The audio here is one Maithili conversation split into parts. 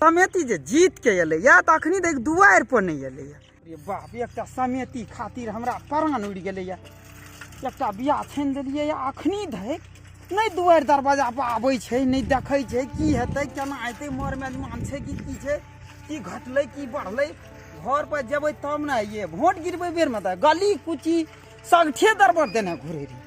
समेती जे जीत के एले या तो अखनी देख दुआर पर नहीं एले या अरे बाप एकटा समेती खातिर हमरा प्राण उड़ गेले या एकटा बियाह छीन देलिए या अखनी धैक नहीं दुआर दरवाजा पर आबै छै नहीं देखै छै की हेतै केना हेतै मोर में मान छै कि की छै की घटलै की बढ़लै घर पर जेबै तब ने ये वोट गिरबै बेर में तऽ गली कुची सगठे दरबर देने घुरे रही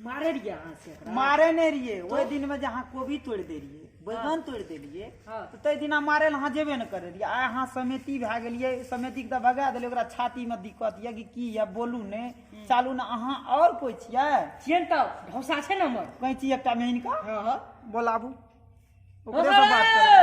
मारे रहिए अहाँ से एकरा? मारे नहि रहियै ओहि दिनमे जे अहाँ कोबी तोड़ि दै रहियै बैगन तोड़ि दै रहियै हँ। तऽ ताहि दिना मारे लए अहाँ जेबे नहि करै रहियै आइ अहाँ समिति भए गेलियै समितिके तऽ भगा देलियै ओकरा छातीमे दिक्कत यए कि की यए बोलू नहि चालू ने अहाँ आओर कोइ छियै छियै ने तऽ ढौसा छै ने हमर कैंची एकटा मेहिन कऽ हँ हँ बोलाबू ओकरे से बात करू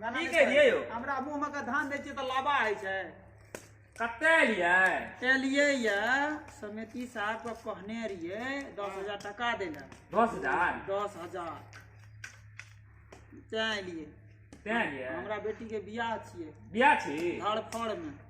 गाना की नहि कहलियै कहै। यौ? हमरा मुंह में के धान दै छियै तऽ लाबा होइ छै कते एलियै एलियै या समिति साहब के कहने रहियै दस हजार टका दै लए दस हजार दस हजार तैं एलियै तैं एलियै हमरा बेटी के बियाह छियै बियाह छी धड़फड़ में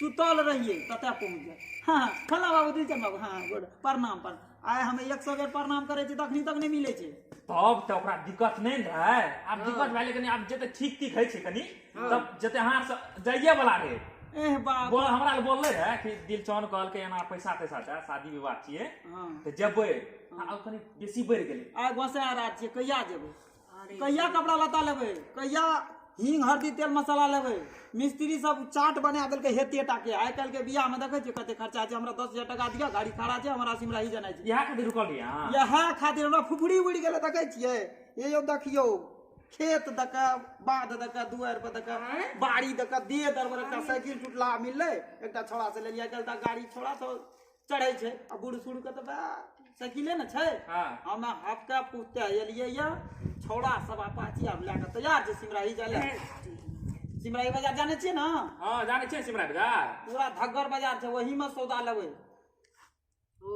सुतल रहिए कतऽ पहुँच जाए हाँ हाँ, फला बाबू दिलचन बाबू हाँ हाँ, गोड प्रणाम प्रणाम आइ हम एक सौ बेर प्रणाम करै छी तखनी तक नहि मिलै छै तब तऽ ओकरा दिक्कत नहि ने रहै आब दिक्कत भए लेकिन आब जते ठीक ठीक होइ छै कनी तब जते अहाँ से जाइए वाला रहै एह बाप बोल हमरा लए बोलले रहै कि दिलचौन कहलकै एना पैसा तैसा छै शादी विवाह छियै हाँ तऽ जेबै आब कनी बेसी बढ़ि गेलै आइ गोसाय रात छियै कहिया जेबै कहिया कपड़ा लता लेबै कहिया हींग हल्दी तेल मसाला लेबै मिस्त्री सब चाट बना देलकै हेते टाके आइ काल्हि के बियाह में देखै छियै कते खर्चा छै हमरा दस हजार टाका दिअ गाड़ी खड़ा छै हमरा सिमरा ही जेनाइ छै इएह खातिर रुकल रही अहाँ इएह खातिर हमरा फुफड़ी उड़ि गेलै देखै छियै ये यौ देखियौ खेत दऽ कऽ बाध दऽ कऽ दुआरि पर दऽ कऽ बाड़ी दऽ कऽ देह दरबर एकटा साइकिल टुटला मिललै एकटा छोड़ा से लेलियै कल तक गाड़ी छोड़ा तो चढ़ै छै आ बूढ़ सूढ़ के तऽ बा साइकिले ने छै हाँ हम हफ्ता पुते एलियै या छौड़ा सब अपाची आब लए कऽ तैयार छै सिमराही जाय लए सिमराही बाजार जाने छियै ने हाँ जाने छियै सिमरा बाजार पूरा धग्गर बाजार छै वही में सौदा लेबै ओ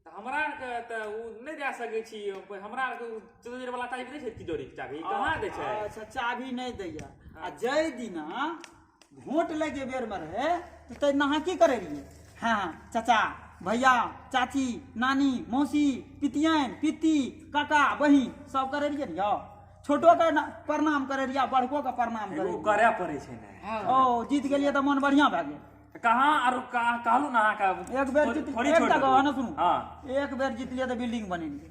तऽ हमरा आरके तऽ ओ नहि दए सकै छी हमरा आरके ओ चतुर्जर वाला टाइप नहि छै तिजोरी के चाभी कहाँ दै छै अच्छा चाभी नहि दैया आ जय दिना वोट लै जे बेरमे रहै तऽ तै नहा की करै रहियै हँ चाचा भैया चाची नानी मौसी पितियन पिति काका बहिन सब करै रहियै ने यौ छोटोके न- प्रणाम करै रहियै आ बड़कोके प्रणाम करै एगो रहियै। करे पड़े छै ने ओ जीत गेलियै तऽ मन बढ़िया भए गेल कहाँ आरो कहाँ कहलू ना अहाँके एक बेर थोड़ी- जीत थोड़ी एक छोड़ टा देबू। गवाह ने सुनू हाँ एक बेर जीतलियै तऽ बिल्डिंग बनेलियै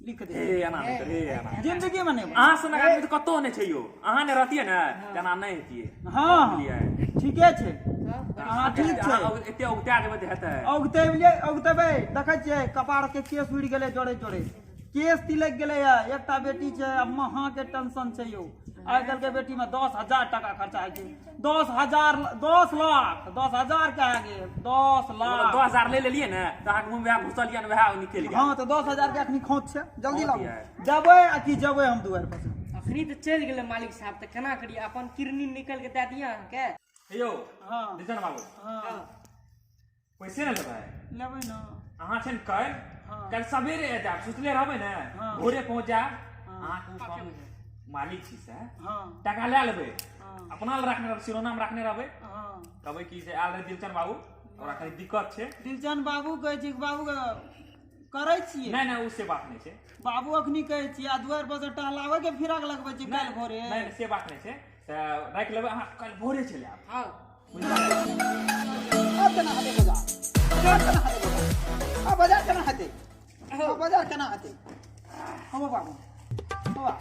लिख दे ए एना नहि कर, ए एना जिंदगी में नहीं बने। अहाँ सनक आदमी तऽ कतहु नहि छै यौ अहाँ ने रहतियै ने तऽ एना नहि हेतियै हाँ बुझलियै ठीके छै हाँ ठीक छै अहाँ अग- एते उगता देबै तऽ हेतै औगतेबले औगतेबे देखै छियै कपार के केस उड़ि गेलै जोरे जोरे केस तिलक गेलै है एकटा बेटी छै आ महाके टेंशन छै यौ आइ काल्हि के बेटी में दस हजार टाका खर्चा होइ छै दस हजार दस लाख दस हजार के आगे दस लाख दस हजार ले लेलिए ने तो अहाँके मुँह में घुसल यऽ वएह निकलि गेल हाँ तो दस हजार के अखनी खोत छै जल्दी लाबू जबै आ कि जबै हम दुआर पर अखनी तऽ चलि गेलै मालिक साहब तऽ केना करी अपन किरनी निकल के दए दिअ अहाँके यौ हाँ रिजन बाबू हाँ पैसे ने लेबै लेबै ने अहाँ छै ने काल्हि हँ। काल्हि सवेरे आबि जायब सुतले रहबै ने हँ। भोरे पहुँच जायब हँ। अहाँके ओ काम मालिक छी से हँ टाका लए लेबै हँ अपना लए रखने रहबै शिरोनाम रखने रहबै हँ कहबै कि से आयल रहै दिलचन बाबू ओकरा कनि दिक्कत छै दिलचन बाबू कहै छी बाबू करै छियै नहि नहि ओ से बात नहि छै बाबू अखनी कहै छियै आ दुआर पर से टहलाबै के फिराक लगबै छियै काल्हि भोरे नहि नहि, से बात नहि छै तऽ राखि लेबै अहाँ काल्हि भोरे चलि आयब हँ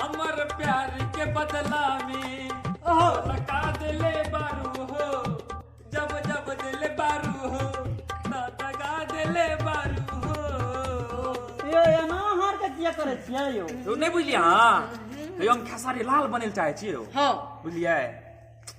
अमर प्यार के बदला में लगा दिले बारू हो जब जब दिले बारू हो ना दगा दिले बारू हो यो एना हार के किया करे छियै यो तू नहीं बुझलिया हाँ यो हम खेसारी लाल बने चाहे छियै हाँ बुझलिया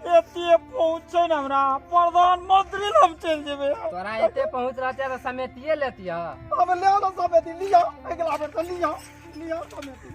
एते पहुँचे न हमरा प्रधानमंत्री लग हम चल जेबे तोरा एते पहुँच रहते तो समेटिए लेतिया अब ले लो समेटी लिया अगला बेर तो लिया लिया समेटी